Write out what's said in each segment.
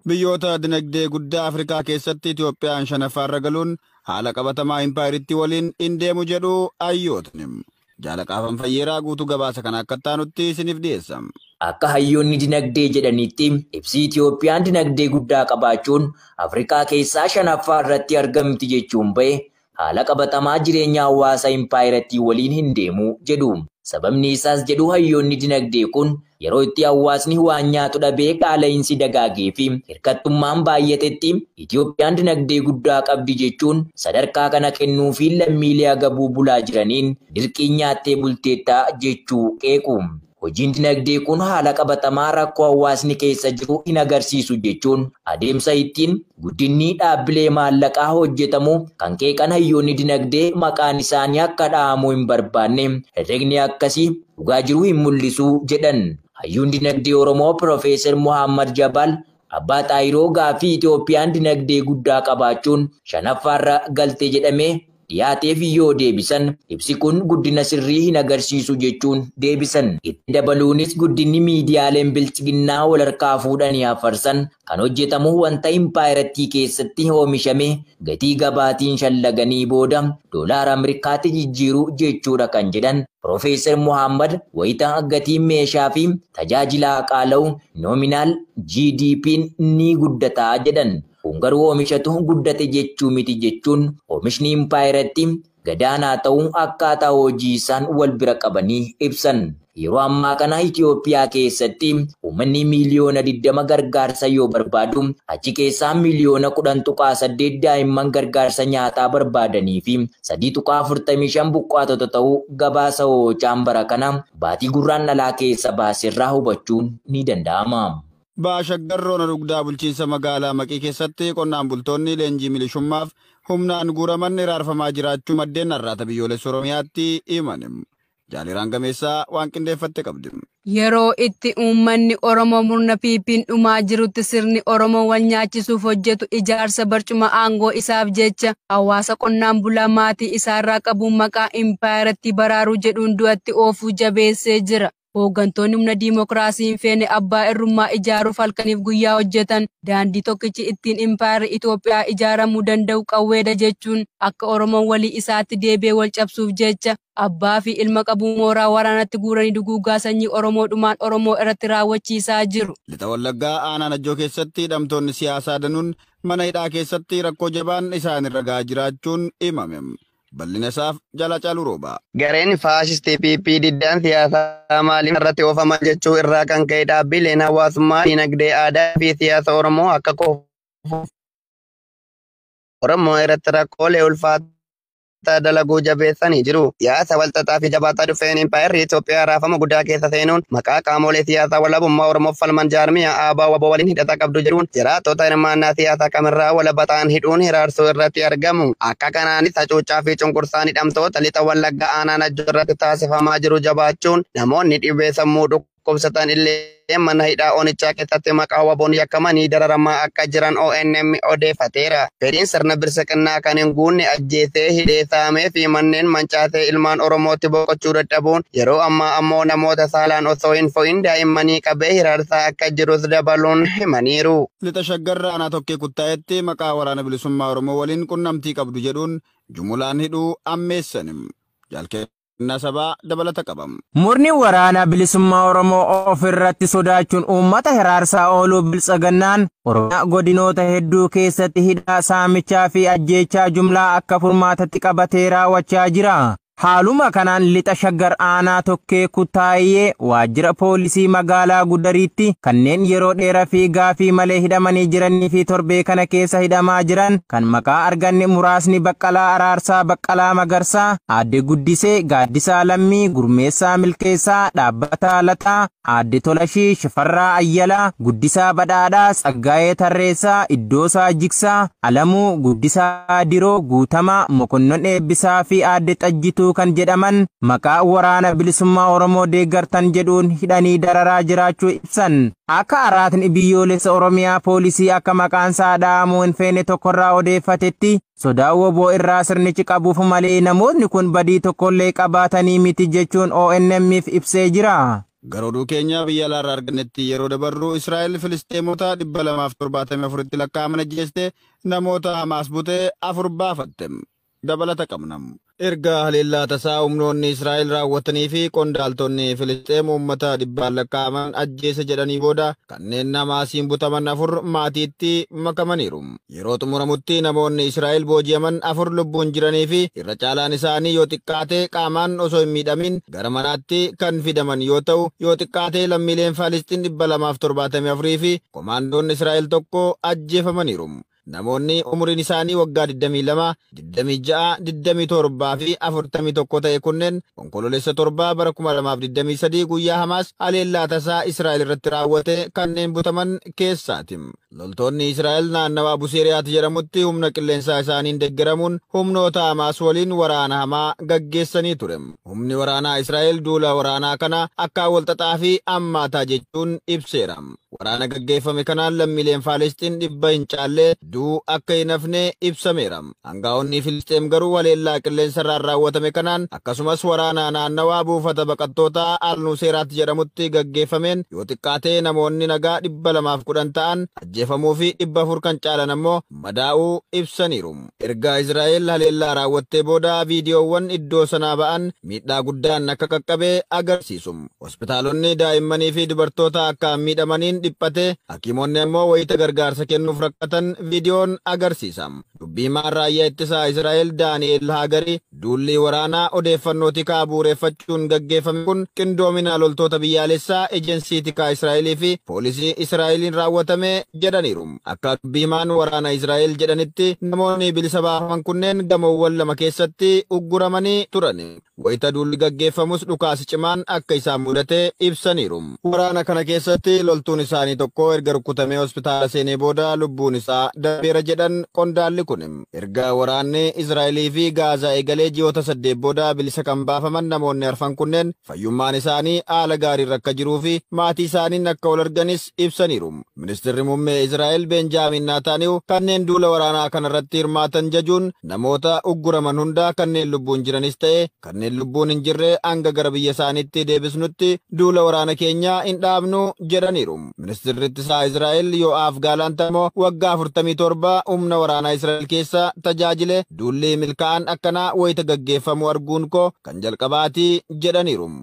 Biyyoota dinagdee guddaa Afrikaa keessatti Itoophiyaan shanaffaarra galuun haala qabatamaa impaayerittii waliin hin deemu jedhu hayyootni. Jaala Qaafan Fayyeeraa guutuu gabaasa kana akka taanutti isiniif dhiyeessa. Akka hayyoonni dinagdee jedhanitti ibsi Itoophiyaan dinagdee guddaa qabaachuun Afrikaa keessaa shanaffaa irratti argamti jechuun ba'e haala qabatamaa jireenya hawaasa impaayerattii waliin hin deemu jedhu. Sababni isaas jedhu hayyoonni dinagdee kun, yeroo itti hawaasni waan nyaatu dhabee qaala'iinsi dagaageefi hirkattummaan baay'atetti Itoophiyaan dinagdee guddaa qabdi jechuun sadarkaa kana kennuufiin lammiilee agabuu bulaa jiraniin dirqiin nyaattee bulteetta jechuu qeequ. Hojiin dinagdee kun haala qabatamaa rakkoo hawaasni keessa jiru hin agarsiisu jechuun adeemsa ittiin guddinni dhaabbilee maallaqaa hojjetamu kan qeeqan hayyoonni dinagdee maqaan isaanii akka dhahamuu hin barbaanne herregni akkasii dhugaa jiru hin mul'isu jedhan. Hayyuun dinagdee Oromoo Pirofeesar Muhaammad Jabaal Abbaa Xaahiroo gaaffii Itoophiyaan dinagdee guddaa qabaachuun shanaffaarra galte jedhamee dhiyaateef yoo deebisan, ibsi kun guddina sirrii hin agarsiisu jechuun deebisan. Itti dabaluunis guddinni miidiyaaleen Biltsiginnaa wal harkaa fuudhanii hafarsan kan hojjetamu wanta impaayerattii keessatti oomishame gatii gabaatiin shallaganii booda doolaara Ameerikaatti jijjiiruu jechuudha kan jedhan Pirofeesar Mohaammad, wayita gatiin meeshaa fi tajaajilaa qaala'u, nominal GDP'n ni guddata jedhan. Kun garuu oomishatu guddate jechuu miti jechuun oomishni impaayerattii gadaanaa ta'uu akkaataa hojii isaan wal bira qabanii ibsan. Yeroo ammaa kana Itoophiyaa keessatti uummanni miiliyoona 20 gargaarsa yoo barbaadu, achi keessaa miiliyoona 10.8 daa'imman gargaarsa nyaataa barbaadaniifi 3.45 buqqaatota ta'uu gabaasa Oochaan bara kana baatii Gurraandhalaa keessa baaserraa hubachuun ni danda'ama. Baha Shaggar Ona Dugdaa Bulchiinsa Magaalaa Maqii keessatti qonnaan bultoonni leenjii milishummaaf humnaan guuraman hiraarfamaa jiraachuu maddeen Arraata Biyyoolessa Oromiyaatti himan. Jaaliraan Gameessaa waan qindeeffatte qabdi. Yeroo itti uummanni Oromoo murna PP'n dhumaa jirutti sirni Oromoo wal nyaachisuuf hojjetu ijaarsa barcuma aangoo isaaf jecha hawaasa qonnaan bulaa maatii isaarraa qabuun maqaa impaayerattii baraaruu jedhuun du'atti oofuu jabeessee jira. Hooggantoonni humna diimokiraasii hin feene abbaa irrummaa ijaaruuf halkaniif guyyaa hojjetan daandii tokkichi ittiin impaayerri Itoophiyaa ijaaramuu danda'u qawweedha jechuun akka Oromoon walii isaatti deebi'ee wal cabsuuf jecha abbaa fi ilma qabu mooraa waraanaatti guuranii duguuggaa sanyii Oromoo dhumaan Oromoo irratti raawwachiisaa jiru. Lixa Wallaggaa aanaa Najjoo keessatti hidhamtoonni siyaasaa danuun mana hidhaa keessatti rakkoo jabaan isaan irra gahaa jiraachuun himame. Bal'ina isaaf jala calu rooba. Gareen faashistii PP diddaan siyaasaa maaliif narratti oofaman jechuu irraa kan ka'e dhaabbiileen hawaasummaa, diinagdee, aadaa fi siyaasa Oromoo akka kufuuf Oromoo irratti rakkoolee ulfaataa dalaguu jabeessanii jiru. Siyaasa walxaxaa fi jabaataa dhufeen Impaayerri Itoophiyaa raafama guddaa keessa seenuun maqaa qaamolee siyaasaa walabummaa Oromoof falman jaarmiyaa ABO wbo waliin hidhata qabdu jedhuun jiraattota hirmaannaa siyaasaa kamirraa walaba ta'an hidhuun hiraarsuu irratti argamu. Gama kanaanis hacuuccaa fi cunqursaan hidhamtoota Lixa Wallaggaa Aanaa Najjoo irratti taasifamaa jiru jabaachuun namoonni dhibee sammuu dhukkubsatan illee mana hidhaa onichaa keessatti maqaa wabon yakkamanii dararamaa akka jiran ONM odeeffateera. Fedhiin sirna birsiqinnaa kan hin guunne ajjeesee, hidhee, saamee fi manneen mancaasee ilmaan Oromootti boqochuu dadhabuun yeroo ammaa ammoo namoota saalaan osoo hin fo'in daa'immanii qabee hiraarsaa akka jirus dabaluun himaniiru. Lixa Shaggar Aanaa Tokkee Kuttaa'etti maqaa Waraana Bilisummaa Oromoo waliin qunnamtii qabdu jedhuun jumulaan hidhuu ammeessan. Jaal Kennaa Sabaa dabalata qaba. Murni Waraana Bilisummaa Oromoo of irratti sodaachuun uummata hiraarsaa ooluu Biltsaginnaan Oromiyaa godinoota hedduu keessatti hidhaa, saamichaa fi ajjeechaa jumlaa akka furmaatatti qabatee raawwachaa jira. Haaluma kanaan Lixa Shaggar Aanaa Tokkee Kutaayee waajjira poolisii magaalaa Gudariitti kanneen yeroo dheera fi gaafii malee hidhamanii jiranii fi torbee kana keessa hidhamaa jiran kan maqaa arganne muraasni Baqqalaa Araarsaa Baqqalaa Magarsaa, Aadde Guddisee, Gaaddisaa Lammii, Gurmeessaa Milkeessaa, Dhaabbataa Lataa, Aadde Tolashii Shifarraa Ayyalaa, Guddisaa Badhaadhaa, Tsaggaayee Tarreessaa, Iddoosaa Jigsaa, Alamuu, Guddisaa Diroo, Guutamaa, Mokonnon Eebbisaa fi Aadde Xajjituu kan jedhaman maqaa Waraana Bilisummaa Oromoo deeggartan jedhuun hidhanii dararaa jiraachuu ibsan. Akka Araatni Biyyoolessa Oromiyaa Poolisii akka maqaansaa dha'amuu hin feene tokkorraa odeeffatetti, Sodaa wbo irraa sirnichi qabuuf malee namootni kun badii tokkollee qabaatanii miti jechuun ONM'f ibsee jira. Gara oduu keenya biyya alaarraa argannetti yeroo dabarru, Israa'el Filisxeemota 274tti lakkaa'aman ajjeeste, namoota Hamaas bute afur baafatte. Dabalata qabna. Erga haleellaa tasaa humnoonni Israa'el raawwatanii fi qondaaltonni Filisxeem uummata dhibbaan lakkaa'aman ajjeese jedhanii booda, kanneen Hamaasiin butaman afur maatiitti makamaniiru. Yeroo xumuramutti namoonni Israa'el booji'aman afur lubbuun jiranii fi irra caalaan isaanii yoo xiqqaate qaamaan osoo hin miidhamiin gara manaatti kan fidaman yoo ta'u, yoo xiqqaate lammiileen Falisxin 274 fi komaandoon Israa'el tokko ajjeefamaniiru. Namoonni umuriin isaanii waggaa 22, 26, 27 fi 41 ta'e kunneen Onkololeessa 7 bara 2023 guyyaa Hamaas haleellaa tasaa Israa'el irratti raawwate kanneen butaman keessaati. Loltoonni Israa'el naannawaa Buseeriyaat jedhamutti humna qilleensaa isaaniin deggeramuun humnoota Hamaas waliin waraana hamaa gaggeessanii ture. Humni waraanaa Israa'el duula waraanaa kana akkaan walxaxaa fi ammaataa jechuun ibseera. Waraana gaggeeffame kanaan lammiileen Faalisxiin dhibba hin caalle du'uu akka hin hafne ibsameera. Angaa'onni Filisxeem garuu haleellaa qilleensarraan raawwatame kanaan akkasumas waraanaa naannawaa buufata baqattootaa Al-Nuseeraat jedhamutti gaggeeffameen yoo xiqqaate namoonni nagaa 210 ta'an ajjeefamuu fi 400 kan caalan ammoo madaa'uu ibsaniiru. Erga Israa'el haleellaa raawwattee booda viidiyoowwan iddoo sanaa ba'an miidhaa guddaan akka qaqqabe agarsiisu. Hospitaalonni daa'immanii fi dubartoota akkaan miidhamaniin dhiphate, hakiimonni ammoo wayita gargaarsa kennuuf rakkatan viidiyoon agarsiisa. Dubbi himaan Raayyaa Ittisaa Israa'el Daani'eel Haagari, duulli waraanaa odeeffannoo tikaa bu'ureeffachuun gaggeeffame kun qindoomina loltoota biyyaalessaa, ejensii tikaa Israa'elii fi poolisii Israa'eliin raawwatame jedhaniiru. Akka dubbi himaan waraana Israa'el jedhanitti, namoonni bilisa baafaman kunneen gamoowwan lama keessatti ugguramanii turan. Wayita duulli gaggeeffamus dhukaasi cimaan akka isaan mudate ibsaniiru. Waraana kana keessatti loltuun isaanii tokko erga rukkutamee hospitaala seenee booda lubbuun isaa darbeera jedhan qondaalli kun. Erga waraanni Israa'elii fi Gaazaa eegalee ji'oota saddeet booda bilisa kan baafaman namoonni arfan kunneen fayyummaan isaanii haala gaariirra akka jiruu fi maatiisaaniin akka wal arganis ibsaniiru. Ministirri Mummee Israa'el Beenjaamiin Naataaniyuu kanneen duula waraanaa kanarratti hirmaatan jajuun namoota ugguraman hunda kanneen lubbuun jiranis ta'e kanneen lubbuun hin jirre hanga gara biyya isaaniitti deebisnutti duula waraana keenya hin dhaabnu jedhaniiru. Ministirri Ittisaa Israa'el Yoo'aaf Gaalaant ammoo waggaa 47 humna waraanaa Israa'el keessa tajaajile duulli milkaa'aan akkanaa wayita gaggeeffamu arguun koo kan jalqabaati jedhaniiru.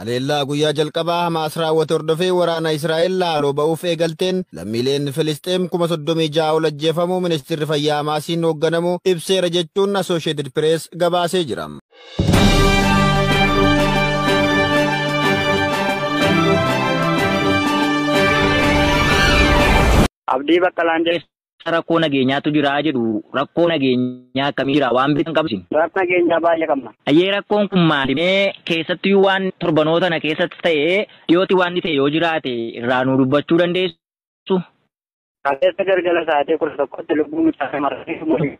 Haleellaa guyyaa jalqabaa Hamaas raawwate hordofee waraana Israa'el haaloo ba'uuf eegalteen lammiileen Filisxeem 36,000 ol ajjeefamuu Ministeerri Fayyaa Hamaasiin hoogganamu ibseera jechuun Asoosheetid Pirees gabaasee jira. Abdii Baqqalaan jedhama. keessa rakkoo nageenyaatu jira jedhu. Rakkoo nageenyaa akkamii jira? Waan beektan qabdu isin? Rakkoo nageenyaa baay'ee qabna. Ayyee rakkoon kun maali mee keessattuu waan torbanoota kana keessatti ta'e dhiyooti waan ta'e yoo jiraate irraa nuu dubbachuu dandeessu? Kaleessa galgala sa'aatii kudha tokkotti lubbuu mucaa shamarranii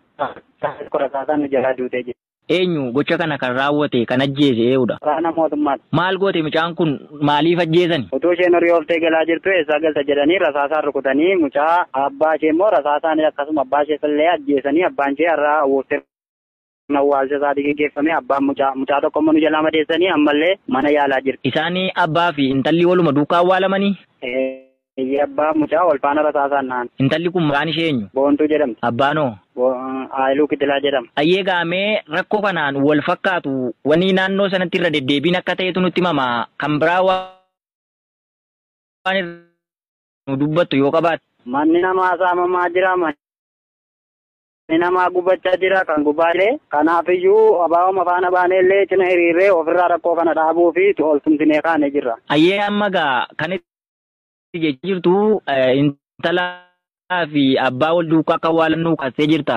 qorataa nu jalaa duutee jirti. Eenyu gocha kana kan raawwate, kan ajjeese eeudha? Waraana mootummaati. Maal goote mucaan kun? Maaliif ajjeesan? Utuu isheen horii ooftee galaa jirtuu eessaa galta jedhanii rasaasaan rukutanii mucaa aabbaa ishee immoo rasaasaan akkasuma abbaa ishee illee ajjeesanii abbaan ishee har'a awwuuffee sirna awwaalcha isaatii geggeeffame abbaan mucaa mucaa tokko immoo nu jalaa madeessanii ammallee mana yaalaa jirti. Isaan abbaa fi intalli waluma duukaa awwaalamanii? Ee. Eeyyee abbaa fi mucaa wal faana rasaasaan dhahan. Intalli kun maqaan ishee eenyu? Boontuu jedhamti. Abbaan hoo? Bo, Haayiluu Kitilaa jedhama. Ayyee egaa mee rakkoo kanaan wal fakkaatu wanni naannoo sanatti irra deddeebiin akka ta'etu nutti himama. Kan biraa waan irra nu dubbattu yoo qabaatte. Manni namaa saamamaa jira, manni namaa gubachaa jira, kan gubaa illee. Kanaafiyyuu abaa'uma faana baanee illee cina hiriirree ofirraa rakkoo kana dhaabuu fi ol tumsinee kaanee jirra. Ayyee amma egaa kan si jechaa jirtu eh, intalaa fi abbaa wal duukaa akka waalannuu kaastee jirta.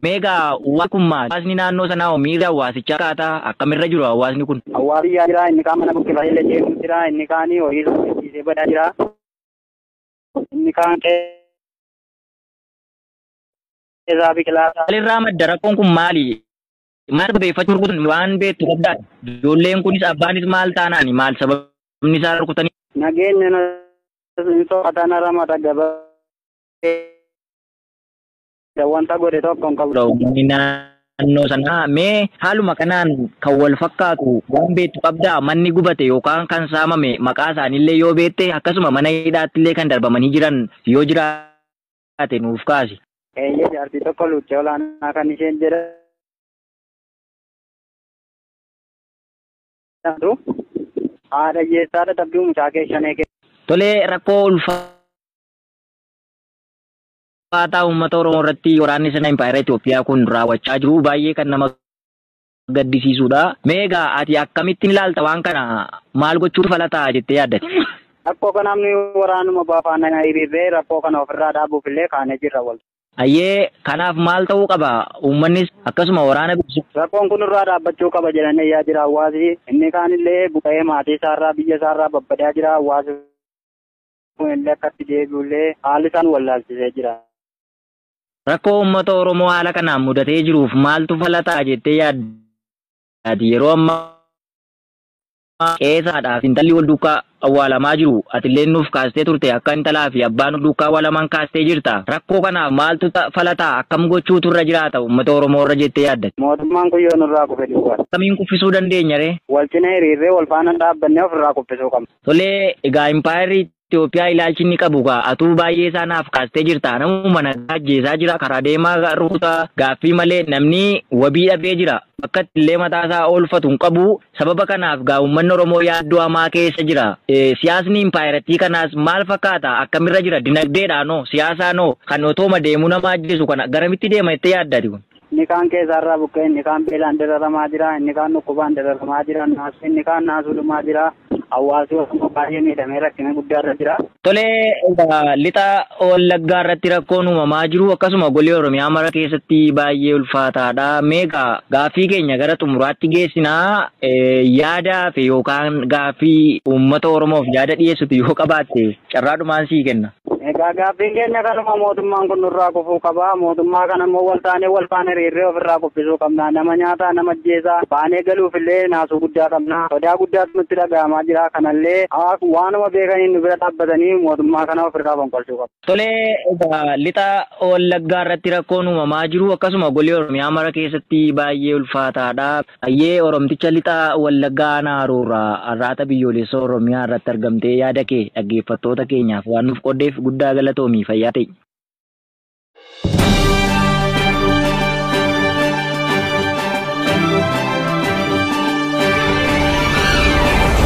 Meegaa waan kun maali? Hawaasni naannoo sanaa hoo miirri hawaasichaa akkaataa akkamirra jiru hawaasni kun? Hawaasni yaa jira inni kaan mana buqqifate illee deemuu jira inni kaan horii irra hojjechiisee badaa jira inni kaan qe'ee isaa biqilaa isaa Maalirraa madda rakkoon kun maali? Maal sababeeffachuu rukutan waan beektu qabdaa? Ijoolleen kunis abbaanis maal taanaani? Maal sababni isaa rukutanii? Nageenya na hin soqatan ramata gabaabee wanta godhe tokko hin qabu. Uummanni naannoo sanaa mee haaluma kanaan kan wal fakkaatu waan beektu qabdaa? Manni gubate yookaan kan saamame maqaa isaaniillee yoo beekte akkasuma mana hidhaattillee kan darbamanii jiran yoo jiraatan taate nuuf kaasi. Eeyyee jaartii tokko luuccee olaanaa kan isheen jedhamtu haadha hiyyeessaa dadhabduu mucaa kee shanee kee. Tole rakkoo ulfaataa uummata Oromoo irratti waraanni sirna impaayera Itoophiyaa kun raawwachaa jiru baay'ee kan nama gaddisiisuudha. Mee egaa ati akkamittin ilaalta waan kana maal gochuutu fala ta'a jettee yaaddati? Rakkoo kanaaf nuyi waraanuma abo faana hiriirree rakkoo kana ofirraa dhaabuuf illee kaanee jirra wal. Hayyee kanaaf maal ta'uu qaba uummannis akkasuma waraana bilisummaa. Rakkoon kun nurraa dhaabbachuu qaba jedhanii iyyaa jira hawaasi. Inni kaan illee buqa'ee maatii isaarraa biyya isaarraa babbadaa jira hawaasi kun illee akka itti deebi'u illee haalli isaan wallaalchisee jira. Rakkoo uummata Oromoo haala kanaan mudatee jiruuf maaltu fala ta'a jettee yaaddaati yeroo ammaa qe'ee haadhaa fi intalli wal duukkaa awwaalamaa jiru atilleen nuuf kaastee turte akka intalaa fi abbaa nu duukkaa awwaalaman kaastee jirta rakkoo kanaaf maaltu fala ta'a akkam gochuutu irra jiraata uummata Oromoo irra jettee yaaddati. Mootummaan kun yoo nurraa kufe duwwaadha. Akkamiin kuffisuu dandeenya ree? Wal cina hiriirree wal faana hin dhaabbanne ofirraa kuffisuu qabna. Tolee, egaa impaayerri Itoophiyaa ilaalchi inni qabu kaa atuu baay'ee isaa naaf kaastee jirta namuma nagaa ajjeesaa jira karaa deemaa rukutaa gaaffii malee namni wabii dhabee jira bakka itti illee mataa isaa oolfatu hin qabu sababa kanaaf gaa uummanni Oromoo yaaddoo hamaa keessa jira siyaasni impaayerattii kanaas maal fakkaata akkamirra jira dinagdeedhaanoo siyaasaanoo kan otooma deemuu nama ajjeesu kana garamitti deema jettee yaaddaati kun. Inni kaan keessa har'aa buqqa'e, inni kaan beelaan dararamaa jira, inni kaan dhukkubaan dararamaa jira, naasuu inni kaan naasuu dhumaa jira. Hawaasi Oromoo baay'ee miidhamee rakkina guddaarra jira. Tole, lixa Wallaggaa irratti rakkoon uumamaa jiru akkasuma golee Oromiyaa mara keessatti baay'ee ulfaataadha. Mee egaa gaaffii keenya gara xumuraatti geessina. Yaada hafe yookaan gaaffii uummata Oromoof yaada dhiyeessitu yoo qabaatte carraadhumaan sii kenna. Egaa gaaffiin keenya kanuma mootummaan kun nurraa kufuu qaba. Mootummaa kana immoo wal taanee wal faana hiriirree ofirraa kuffisuu qabna. Nama nyaataa, nama ajjeesaa baanee galuufillee naasuu guddaa qabna. Sodaa guddaatu nutti dhaga'amaa jira. Kanallee waanuma beekaniin nu bira dhaabbatanii mootummaa kana ofirraa fonqolchuu qabu. Tole, egaa lixa Wallaggaa irratti rakkoon uumamaa jiru akkasuma golee Oromiyaa mara keessatti baay'ee ulfaataadha. Hayyee Oromticha Lixa Wallaggaa Aanaa Haroorraa Arraata Biyyooleessa Oromiyaa irratti argamtee yaada kee dhaggeeffattoota keenyaaf waan nuuf qooddeef guddaa galatoomi fayyaa ta'i.